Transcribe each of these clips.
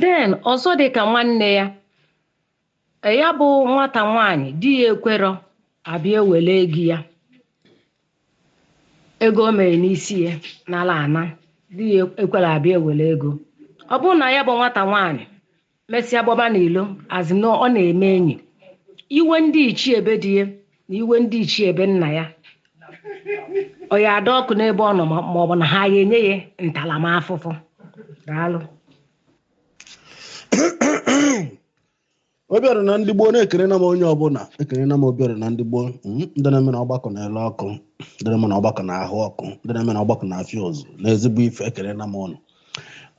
then ọzọ dị ka nwanne ya e, ya bụ nwata nwaanyị di ya ekwerọ abịa ewere ego ya ego o mere n'isi ya n'ala ana di ya ekwerọ abịa ewere ego ọ bụrụ na ya bụ nwata nwaanyị mesịa gbaba n'ilo a sị na ọ na-eme enyi iwe ndị ichie be di ya na iwe ndị ichie be nna ya ọ ya ada ọkụ n'ebe ọ nọ ma ọ bụ na ha ya enye ya ntaramafụfụ daalụ obiọra na ndị gboo na ekenena m onye ọbụla ekenena m obiọra na ndị gboo mm, ndị na-eme na ọgbakọ na-ele ọkụ ndị na-eme na ọgbakọ na-ahụ ọkụ ndị na-eme na ọgbakọ na-afịa ụzụ na ezigbo ife ekenena m ụnụ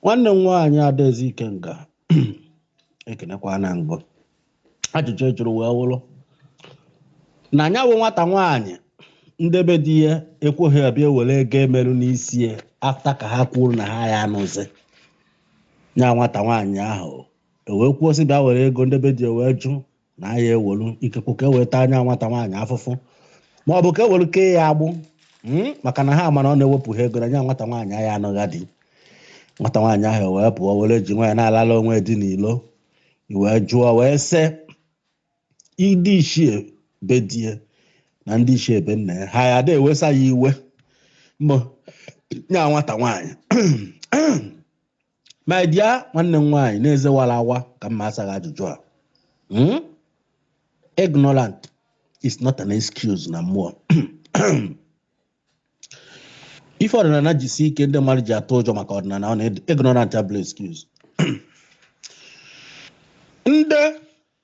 nwanne m nwaanyị adaeze ikenga ekenekwana m gị ajụjụ a jụrụ wee wụrụ na nya bụ nwata nwaanyị ndị be di ya ekweghị abịa ewere ego e meru n'isi ya after ka ha kwuru na ha ya anụzi nya nwata nwaanyị ahụ wee kwuo sị bịa were ego ndị be di ya wee jụ na ya ewelu ikekwe ka e wee taa nya nwata nwaanyị afụfụ ma ọ bụ ka e welu kee ya agbụ mm, maka na ha ma na ọ na ewepụghị ego na nya nwata nwaanyị ahụ anụgha di nwata nwaanyị ahụ wee pụọ were ji nwaanyị na-alala onwe dị n'ilo wee jụọ wee sị ndị ichie be di ya na ndị ichie be nna ya ha ya ada ewesa ya iwe mbụ nya nwata nwaanyị my dear nwanne m nwaanyị n'ezi wara awa ka m ma asa gị ajụjụ a hmm? ignorant is not an excuse na mmụọ ife ọdịnala ji sie ike ndị mmadụ ji atụ ụjọ maka ọdịnala ọ na ignorant abụrọ excuse ndị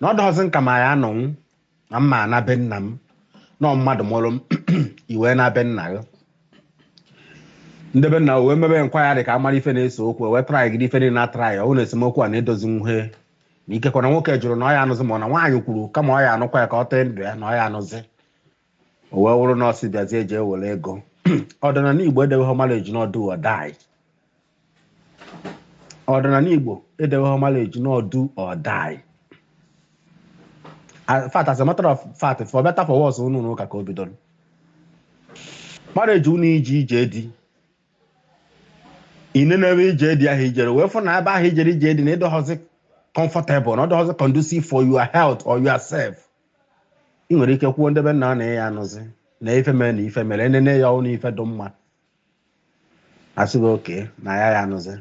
na ọ dọghọzi nke m ya anọnwụ na m ana be nna m na ọ mmadụ mụrụ m i wee naa be nna gị ndị be nna wee mebe enquiry ka a mara ife na-ese okwu wee try gị ife niile na try ọ bụrụ na esemokwu a na edozinwuhe na ikekwe na nwoke jụrụ na ọ ya anụzi ma ọ na nwaanyị kwuru kama ọ ya anụkwa ya ka ọ tee ndụ ya na ọ ya anụzi o wee wụrụ na ọ sị bịazie eji ewere ego ọdịnala igbo edeweghị marriage na ọ do or die ọdịnala igbo edeweghị marriage na ọ do or die in fact as a matter of fact for better for worse ọ n'ụnọ ụka ka o bidoro marriage ọ na i jee ije di i nọ n'ebe ije di ahụ i jere wee fụ na ebe ahụ i jere ije di na ị dọghọzi comfortable na ọ dọghọzi conducive for your health or yourself ị nwere ike kwuo nde be nna na ya anụzi na ife mere na ife mere enene ya ọnụ ife dị mma a sị okay na ya ya anụzi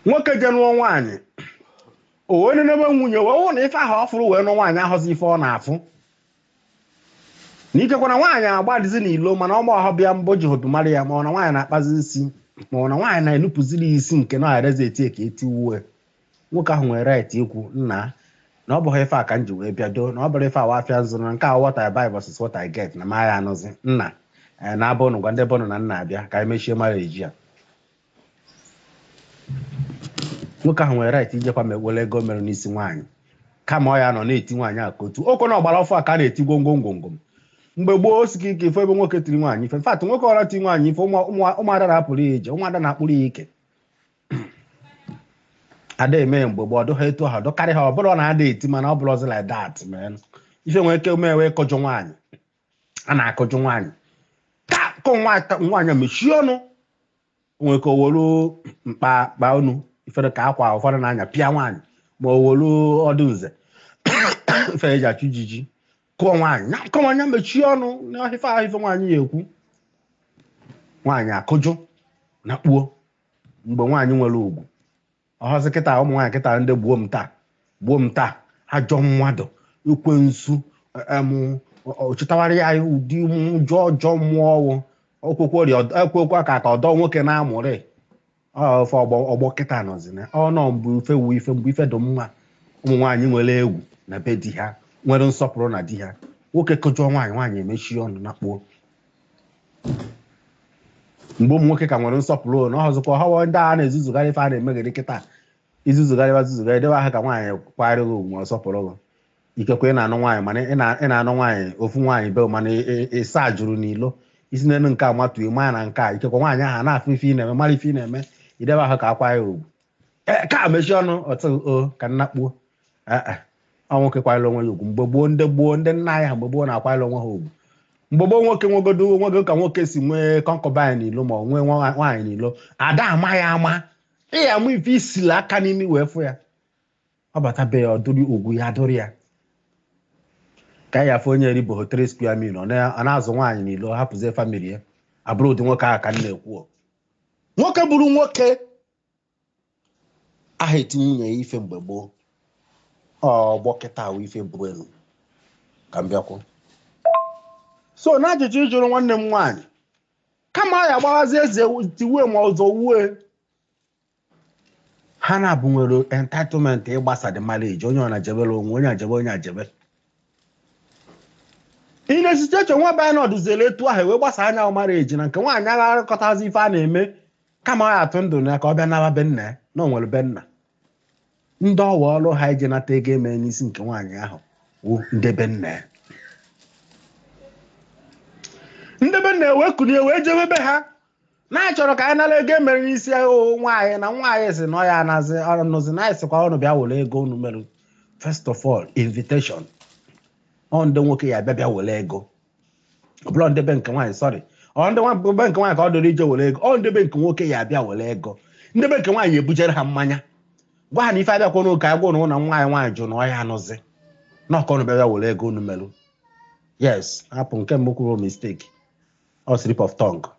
nwoke je nụọ nwaanyị o wee nenebe nwunye wee hụ na ife ahụ ọ fụrụ wee nụọ nwaanyị ahọzi ife ọ na-afụ na ikekwa na nwaanyị agbadizi n'ilo mana ọgba ọhọ bịa mbụ ji hobi mara ya ma ọ na nwaanyị na-akpazi isi ma ọ na nwaanyị na-enupụziri ya isi nke na arezi eti ka eti uwe nwoke ahụ nwere right ikwu nna na ọ bụghị ife a ka m ji wee bịa doo na ọ bụrọ ife awa afịa m zụrụ na nke a what I buy versus what I get na m aya anụzi nna ee na abụ unu gwa ndị be unu na nna abịa ka anyị mechie marriage a nwoke ahụ nwere right ijekwa ma were ego e mere n'isi nwaanyị kama ọ ya nọ na-eti nwaanyị a ka otu ọ kwa na ọgbara ọfụ a ka a na-eti gwongwo ngwongwo mgbe gboo o sika ike ịfụ ebe nwoke tiri nwaanyị ife in fact nwoke ọra ti nwaanyị ife ụmụ- ụmụ- ụmụada na-apụrụ ya ije ụmụada na-akpụrụ ya ike ada eme mgbe gboo ọ dụ ha etu ha dụkarị ha ọ bụrọ na ada eti mana ọ bụrọzi like that mana ife e nwere ike mee wee kụjụọ nwaanyị a na-akụjụ nwaanyị ka nwaanyị mechie ọnụ nwere ka o wolu mkpa kpa unu ifere ka akwa ụfọdụ na-anya pịa nwaanyị ma o wolu ọdụ nza ife eji achụ ijiji kụọ nwaanyị ka nwaanyị mechie ọnụ n'ife ahụ ife nwaanyị ya ekwu nwaanyị akụjụ na kpuo mgbe nwaanyị nwere ugwu ọ họzi kịta ụmụ nwaanyị kịta ndị gbuo m taa gbuo m taa ajọ mmadụ ekwensu em, ọ- ọ chịtawara ya ụdị ụjọ ajọ mmụọ ọwụ okwekwe ọrịa ọd- ekwekwe ka ka ọ dọ nwoke n'amụ ụdị ife ọgbọ ọgbọ kịta nọzi na ọ na mbụ ife wu ife mbụ ife dị mma ụmụ nwaanyị nwere egwu na be di ha nwere nsọpụrụ na di ha nwoke kụjụọ nwaanyị nwaanyị emechie ọnụ na kpuo mgbe ụmụ nwoke ka nwere nsọpụrụ na ọzọkwa ọ họ ndị a na-ezuzugharị ife a na-emegheri kịta ị zuzugharịba zuzugharị debe ahụ ka nwaanyị kwanyere gị ugwu ọ sọpụrụ gị ikekwe ị na-anụ nwaanyị mana ị na-anụ nwaanyị ofu nwaanyị be mana ịsa jụrụ n'ilo i si n'elu nke a matuo maa na nke a ikekwe nwaanyị ahụ na-afụ ife ị na-eme mara ife ị na-eme i debe ahụ ka a kwanye gị ugwu Eh, ka mechie ọnụ ọtụ o ka na kpuo Eh, eh. ọ nwoke kwanyere onwe ya ugwu mgbe gboo ndị gboo ndị nna anyị ha mgbe gboo na-akwanyere onwe ha ugwu mgbe gboo nwoke nwegodu o nwego ka nwoke si nwee concubine n'ilo ma ọ nwee nwa- nwaanyị n'ilo ada ama ya ama ị ya ama ife isila aka n'imi wee fụ ya ọ bata be ya ọ dụrụ ugwu ya dụrụ ya ka ya afọ onye eribehọ three square meal ọ na- ọ na-azụ nwaanyị n'ilo hapụzie family ya ọ bụrọ ụdị nwoke ahụ ka m na-ekwu o. nwoke bụrụ nwoke aha eti nwunye ya ife mgbe gboo ọgbọ kịta ahụ ife bụ elu ka m bịakwụ so na ajụjụ ị jụrụ nwanne m nwaanyị kama ya gbaghazi eze tiwe ma ọzọ wue ha naabọ nwere entitlement ịgbasa the marriage onye ọ na-ajebere onwe onye ajebe onye ajebe ị na-esite eche nwa be anyị nọdụziere etu ahụ wee gbasa nya marriage na nke nwaanyị agha arụkọtazi ife a na-eme kama ọ ya atụ ndụ na ya ka ọ bịa naba be nna ya na o nwere be nna ndị ọ wụ ọrụ ha ije nata ego e mere n'isi nke nwaanyị ahụ wụ ndị be nna ya ndị be nna ya wee kulie wee jebe be ha na-achọrọ ka anyị nara ego e mere n'isi ahụ nwaanyị na nwaanyị sị na ọ ya anazi anụzi na anyị sịkwa unu bịa were ego unu mere first of all invitation ọ ndị nwoke ya bịa bịa were ego ọ bụrụ ndị be nke nwaanyị sorry ọ ndị nwa- be nke nwaanyị ka ọ dịrị ije were ego ọ ndị be nke nwoke ya abịa were ego ndị be nke nwaanyị ebujere ha mmanya gwa ha na ife abịakwa n'ụka a gwa ụnụ na nwa anyị nwaanyị jụ na ọ ya anụzi na ọ ka ụnụ bịa were ego unu merụ yes hapụ nke mbụ kwuru mistake ọ slip of tongue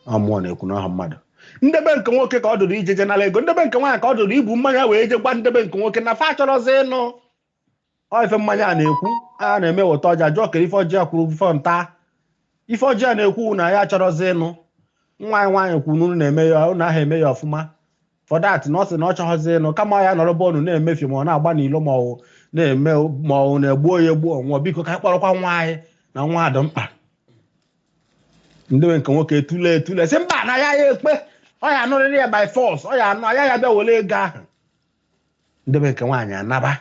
ọ mụọ na-ekwu n'ọha mmadụ ndị be nke nwoke ka ọ dụrụ ije je nara ego ndị be nke nwaanyị ka ọ dụrụ ibu mmanya wee je gwa ndị be nke nwoke na fa achọrọzi ịnụ ọ ife mmanya a na-ekwu a na-eme weta ọjị a jụọ kere ife ọjị a kwuru ife nta ife ọjị a na-ekwu na ya achọrọzi ịnụ nwa anyị nwaanyị kwuru na unu na-eme ya unu aha eme ya ọfụma for that na ọ sị na ọ chọghọzi ịnụ kama ya nọrọ be unu na-emefi ma ọ na-agba n'ilo ma ọ na-eme ma ọ na-egbu ya egbu ọ nwụọ biko ka anyị kpọrọkwa nwa anyị na nwa dị mkpa ndị be nke nwoke etule etule sị mba na ya ya ekpe ọ ya anụrịrị ya by force ọ ya anụha ya ya bịa were ego ahụ ndị be nke nwaanyị anaba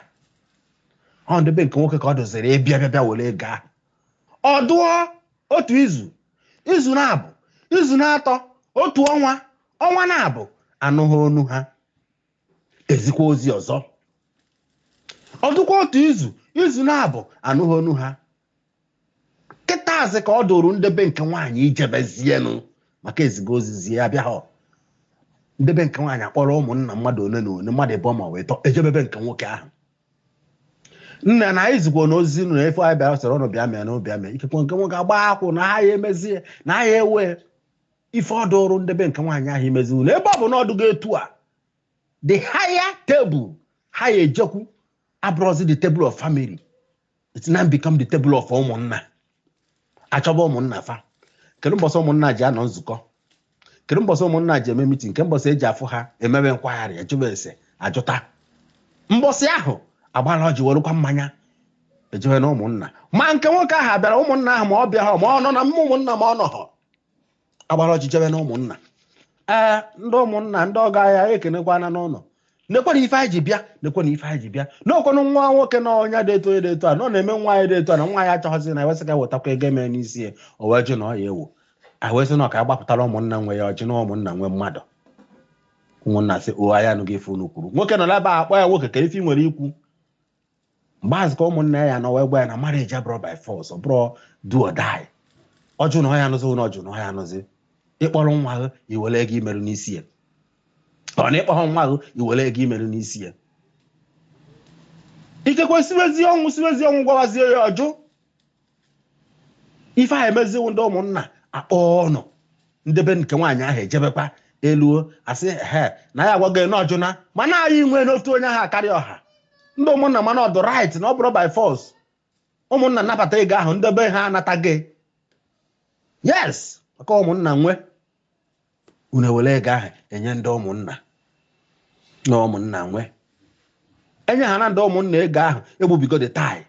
ọ ndị be nke nwoke ka ọ dụziri ịbịa bịa bịa were ego ahụ ọ dụọ otu izu izu naabọ izu naatọ otu ọnwa ọnwa naabọ anụghị onu ha ezikwa ozi ọzọ ọ dụkwa otu izu izu naabọ anụghị onu ha kịtazi ka ọ dụrụ ndebe nke nwaanyị ijebezienụ maka ezigo ozizi ya abịahọrọ ndebe nke nwaanyị akpọrọ ụmụnna mmadụ ole na ole mmadụ ịbụọ ma ọ bụ ịtọ ejebe be nke nwoke ahụ nna na anyị zikwa na ozi nụ na ife anyị bịara sịrị ụnụ bịa mee na ụbịa mee ikekwe nke nwoke agba akwụ na ha ya emezie na ha ya ewe ife ọ dụrụ ndebe nke nwaanyị ahụ imezi nụ ebe ọ bụ na ọ dụgo etu a the higher table ha ya ejekwu abụrụzi the table of family it's now become the table of ụmụnna achọba ụmụnna fa kedu mbọsị ụmụnna ji anọ nzukọ kedu mbọsị ụmụnna ji eme mitin nke mbọsị eji afụ ha emebe nkwagharị ajụba ese ajụta mbọsị ahụ agbara ọjị werụkwa mmanya ejewe na ụmụnna ma nke nwoke ahụ bịara ụmụnna ahụ ma ọ bịaha ma ọ nọ na ụmụnna ma ọ nọghọ agbara ọjị jebe na ụmụnna ee ndị ụmụnna ndị ọgọ anyị anyị ekenekwana unu nekwanụ ife anyị ji bịa nekwanụ ife anyị ji bịa na ọ kwanụ nwa nwoke na onye dị eto dị eto a nọ na-eme nwa anyị dị eto a na nwa anyị achọghịzị ịnụ e wee sị ka wetakwa ego e mere n'isi ya o wee jụ na ọ ya ewo e wee sị na ọ ka agbapụtara ụmụnna nwe ya ọjị na ụmụnna nwe mmadụ ụmụnna sị o anyị anụgo ife unu kwuru nwoke nọ n'ebe a akpọ ya nwoke kee ife ị nwere ikwu mgbe ahụzi ka ụmụnna ya nọ wee gwa ya na marriage abụrọ by force ọ bụrọ do or die ọ jụ na ọ ya anụzi na ọ jụ na ọ ya anụzi ị kpọrọ nwa ahụ i were ego i merụ n'isi ya ọ na ị kpọrọ nwa ahụ i were ego i merụ n'isi ya ikekwe siwezi ọnwụ siwezi ọnwụ gwawazie ya ọ jụ ife a emeziwo ndị ụmụnna akpọọ unu nde be nke nwaanyị ahụ ejebekwa eluo asị ha na ya agwago na ọ jụna mana anyị nwee n'otu onye aha akarị ọha ndị ụmụnna ma na ọ dụ right na ọ bụrọ by force ụmụnna nabata ego ahụ nde be ha anataghị yes maka ụmụnna nwe unu ewere ego ahụ enye ndị ụmụnna na ụmụnna nwe enye ha na ndị ụmụnna ego ahụ egbubigo the tie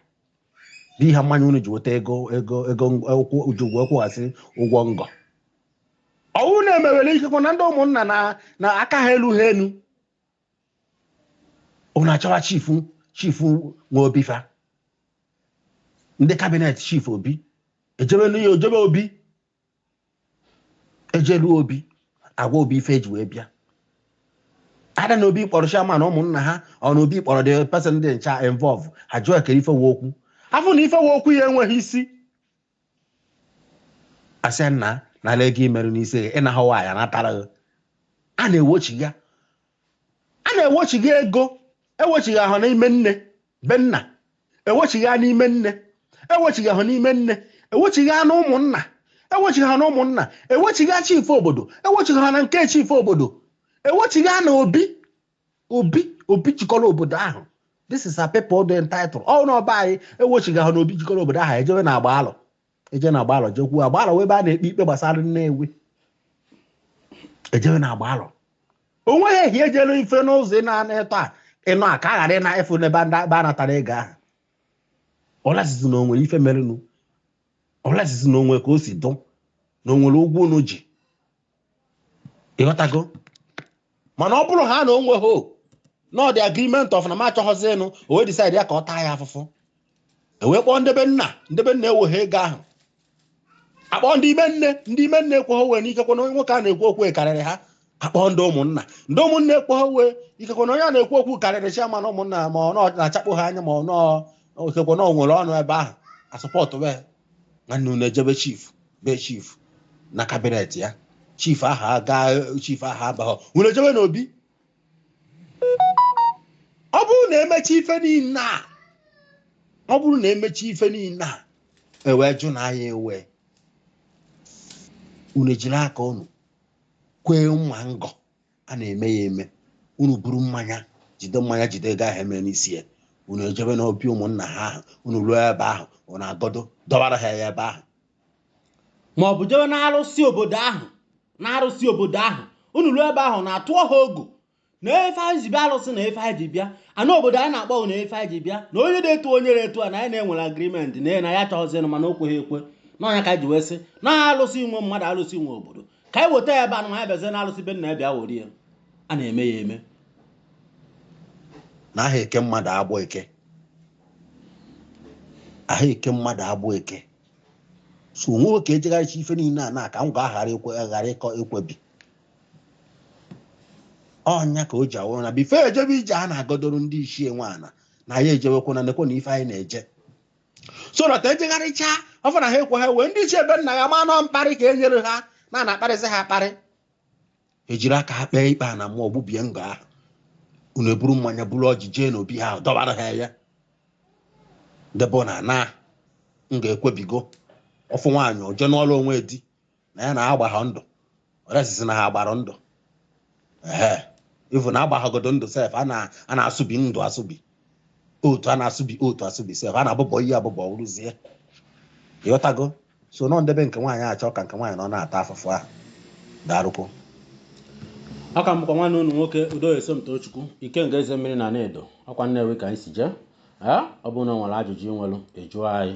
bụ ihe mmanya unu ji weta ego ego ego ụkwụ uju wee kwụghasị ụgwọ ngọ ọ wụ na-emewere ikekwe na ndị ụmụnna na na aka ha eluha elu unu achọwa chief chief nwe obi fa ndị cabinet chief obi ejebe nụ ejebe obi ejelu obi agwa obi ife e ji wee bịa ada na obi kpọrọ chairman ụmụnna ha ọ na obi kpọrọ the person dị ncha involve ha jụọ ekere ife wụ okwu afụ na ife wụ okwu ya enweghị isi asị nna nala ego i merụ n'isi gị ịna ha nwaanyị natara gị a na-ewochiga a na-ewochiga ego ewochighị n'ime nne be nna ewochiga n'ime nne ewochighị n'ime nne ewochiga na ụmụnna ewochighị na ụmụnna ewochiga chief obodo ewochighị na nke chief obodo ewochiga na obi obi obi jikọrọ obodo ahụ this is a people dị entitled ọ na be anyị ewochighị na obi jikọrọ obodo ahụ ejewe na agbalọ eje na agbalọ jekwuo agbalọ wụ ebe a na-ekpe ikpe gbasara nnewi ejewe na agbalọ o nweghị ehi ejelu ife n'ụzọ ị na-ana eto a ịnọ a ka a ghara ịna efu n'ebe ndị ebe a natara ego ahụ unless zi na o nwere ife merenụ unless zi na o nwe ka o si dụ na o nwere ụgwọ unu ji ị ghọtago mana ọ bụrụ ha na o nwehọ another agreement of na m achọghọzi ịnụ o wee decide ya ka ọ taa ya afụfụ e wee kpọọ nde be nna nde be nna eweghị ego ahụ akpọọ ndị ime nne ndị ime nne ekweghị ewe n'ikekwe na onye nwoke a na-ekwu okwu karịrị ha akpọọ ndị ụmụnna ndị ụmụnna ekweghị ewe ikekwe na onye a na-ekwu okwu karịrị chairman ụmụnna ma ọ na-achakpụ ha anya ma ọ ikekwe na o nwere ọnụ ebe ahụ asọpọtụ wee nwanne unu ejebe chief be chief na kabinet ya chief ahụ chief ahụ abaghọ unu ejebe n'obi ọ bụrụ na emechaa ife niile a ọ bụrụ na emechaa ife niile a o wee jụ na ya ewe unu ejiri aka unu kwee mma ngo a na-eme ya eme unu buru mmanya jide mmanya jide ego ahụ eme n'isi ya unu ejebe n'obi ụmụnna ha ahụ unu ruo ebe ahụ unu agọdo dọbara ha ya ebe ahụ ma ọ bụ jebe na arụsị obodo ahụ na arụsị obodo ahụ unu ruo ebe ahụ unu atụọ ha ogu nee ife anyị ji bịa arụsị nee ife anyị ji bịa ana obodo anyị na-akpọ nee ife anyị ji bịa na onye na-etu onye na-etu a na anyị na ya nwere agreement na na ya chọghịzinụ mana o kweghị ekwe na ọ ya ka anyị ji wee sị na alụsị nwe mmadụ alụsị nwe obodo ka anyị weta ya ebe anụ anyị bịazie n'alụsị be nna ya bịa were ya a na-eme ya eme na aha eke mmadụ agbụ eke aha eke mmadụ agbụ eke so o nwe ka ejegharịcha ife niile a na ka m ga-aghara aghara ịkọ ekwebi ọ ya ka o ji awụrụ na before ejebe ije a na-agọdoro ndị ichie nwaana na ya ejewekwana nekwe na ife anyị na-eje so that ejegharịcha ọ bụ na ha ekweghọ ewe ndị ichie be nna ya ama na ọ mkparị ka e nyere ha na a na-akparịzi ha akparị ejiri aka ha kpee ikpe a na mmụọ gbubie ngo ahụ unu eburu mmanya buru ọjị jee n'obi ha dọbara ha ya debe na na m ga-ekwebigo ofu nwaanyị oje n'ọrụ o nwe di na ya na ha agbaghọ ndụ o resist na ha gbara ndụ ee even a agbaghọgodo ndụ sef a na-asụbi ndụ asụbi otu a na-asụbi otu asụbi sef a na-abụbọ iyi abụbọ rụzie ị ghọtago so na ọ ndị be nke nwaanyị achọ ka nke nwaanyị nọ na-ata afụfụ ahụ darụkwọ ọ ka bụkwa nwanne unu nwoke udoye somtochukwu ikenga eze mmiri na nne edo ọkwa nnewi ka anyị si jee ọ bụrụ na ọ nwere ajụjụ ị nwere ịjụọ anyị